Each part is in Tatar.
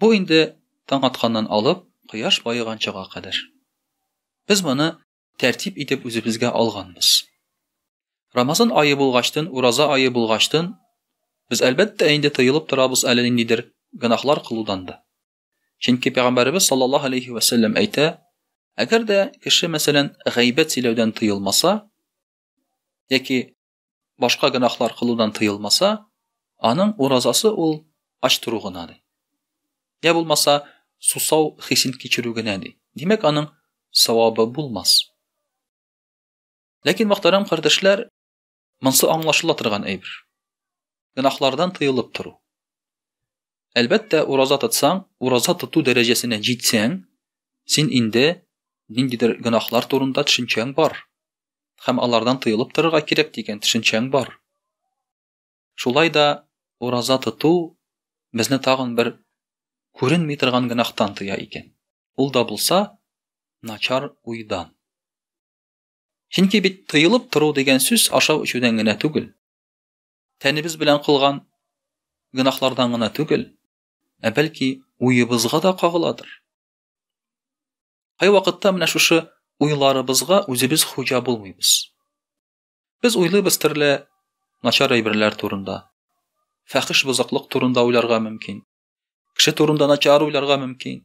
Бу инде таң атканнан алып, кояш баеганчага кадәр. Без моны тәртип итеп үзебезгә алганбыз. Рамазан ае булгачтын, ураза ае булгачтын, без әлбәттә инде тыелып торабыз әле ниндидер гөнаһлар кылудан да. Чөнки пәйгамбәребез саллаллаһу алейхи ва сәлләм әйтә, әгәр дә кеше мәсәлән гайбәт сөйләүдән тыелмаса, яки башка гөнаһлар кылудан тыелмаса, аның уразасы ул ач тору гына ди. Я булмаса, сусау хисен кичерү генә ди. Димәк, аның савабы булмас. Ләкин мөхтәрәм кардәшләр, монсы аңлашыла торган әйбер. Гөнаһлардан тыелып тору. Әлбәттә, ураза тотсаң, ураза тоту дәрәҗәсенә җитсәң, син инде ниндидер гөнаһлар турында төшенчәң бар. һәм алардан тыелып торырга кирәк дигән төшенчәң бар. Шулай да ураза тоту безне тагын бер күренми торган гөнаһтан тыя икән. Ул да булса, начар уйдан. Чөнки бит тыелып тору дигән сүз ашау эчүдән генә түгел. Тәнебез белән кылган гөнаһлардан гына түгел, ә бәлки уебызга да кагыладыр. Кайвакытта менә шушы уйларыбызга үзебез хуҗа булмыйбыз. Без уйлыйбыз төрле начар әйберләр турында. Фәхиш бозыклык турында уйларга мөмкин. Кеше турында начар уйларга мөмкин.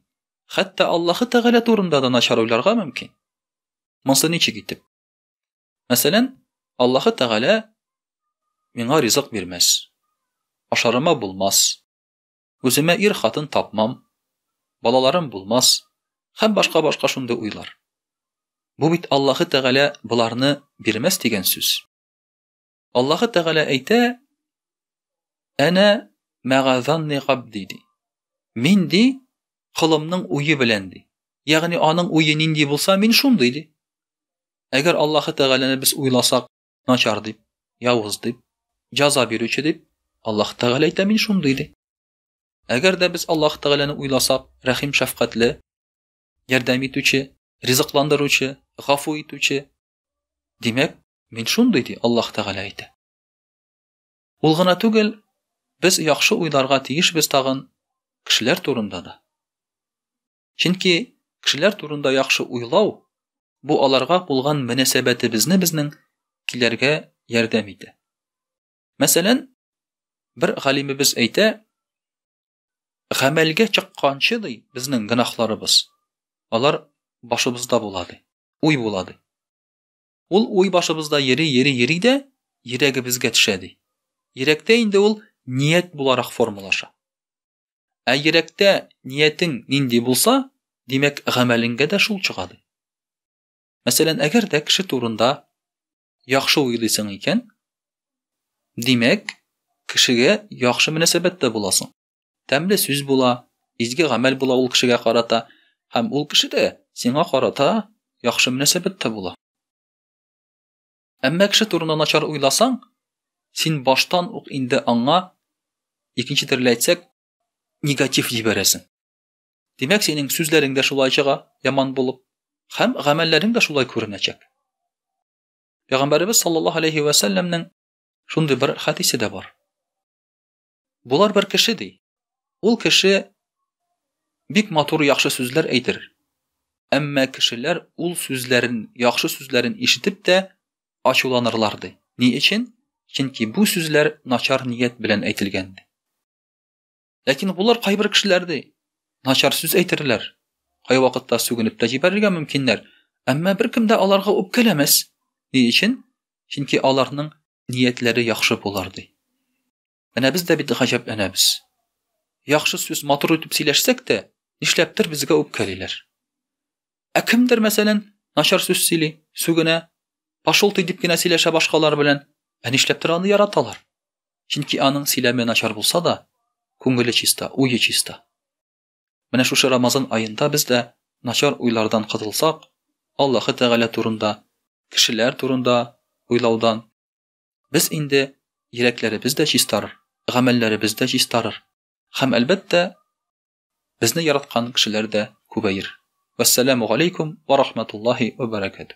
Хәтта Аллаһы Тәгалә турында да начар уйларга мөмкин. Монсы ничек итеп? Мәсәлән, Аллаһы Тәгалә миңа ризык бирмәс. Ашарыма булмас. Үземә ир хатын тапмам, балаларым булмас һәм башка башка шундый уйлар. Бу бит Аллаһы Тәгалә боларны бирмәс дигән сүз. Аллаһы Тәгалә әйтә, Әнә мәгазанни габди ди. Мин ди, кылымның уе белән ди. Ягъни аның уе нинди булса, мин шундый ди. Әгәр Аллаһы Тәгаләне без уйласак, начар дип, явыз дип, җаза бирүче дип, Аллаһ Тәгалә әйтә мин шундый ди. Әгәр дә без Аллаһ Тәгаләне уйласак, рәхим шәфкатьле, ярдәм итүче, ризыкландыручы, гафу итүче, димәк, мин шундый ди Аллаһ Тәгалә әйтә. Ул гына түгел, без яхшы уйларга тиешбез тагын кешеләр турында да. Чөнки кешеләр турында яхшы уйлау бу аларга булган мөнәсәбәтебезне безнең киләргә ярдәм итә. Мәсәлән, бер галимебез әйтә, гамәлгә чыкканчы ди безнең гынахларыбыз, алар башыбызда була ди, уй була ди. Ул уй башыбызда йөри, йөри, йөри дә йөрәгебезгә төшә ди. Йөрәктә инде ул ният буларак формалаша. Ә йөрәктә ниятең нинди булса, димәк, гамәлеңгә дә шул чыга ди. Мәсәлән, әгәр дә кеше турында яхшы уйлыйсың икән, димәк, кешегә яхшы мөнәсәбәттә буласың. Тәмле сүз була, изге гамәл була ул кешегә карата, һәм ул кеше дә сиңа карата яхшы мөнәсәбәттә була. Әмма кеше турында начар уйласаң, син баштан ук инде аңа, икенче төрле әйтсәк, негатив җибәрәсең. Димәк, синең сүзләрең дә шулай чыга, яман булып, һәм гамәлләрең дә шулай күренәчәк. Пәйгамбәребез саллаллаһу алейхи ва сәлләмнең шундый бер хәдисе дә бар. Болар бер кеше ди. Ул кеше бик матур яхшы сүзләр әйтер. Әмма кешеләр ул сүзләрен, яхшы сүзләрен ишетеп тә ачуланырлар ди. Ни өчен? Чөнки бу сүзләр начар ният белән әйтелгән ди. Ләкин булар кайбер кешеләр ди, начар сүз әйтерләр. Кайвакытта сүгенеп тә җибәрергә мөмкиннәр, әмма беркем дә аларга үпкәләмәс. Ни өчен? Чөнки аларның ниятләре яхшы булыр, ди. Менә без дә бит гаҗәпләнәбез. Яхшы сүз матур итеп сөйләшсәк тә, нишләптер безгә үпкәлиләр. Ә кемдер, мәсәлән, начар сүз сөйли, сүгенә, пошел ты дип кенә сөйләшә башкалар белән, ә нишләптер аны яраталар. Чөнки аның сөйләме начар булса да, күңеле чиста, уе чиста. Менә шушы Рамазан аенда без дә начар уйлардан котылсак, Аллаһы Тәгалә турында, кешеләр турында уйлаудан, без инде йөрәкләребез дә чистарыр, гамәлләребез дә чистарыр. Һәм, әлбәттә, безне яраткан кешеләр дә күбәер. Вәссәламу галәйкүм вә рахматуллаһи вә бәрәкәтү.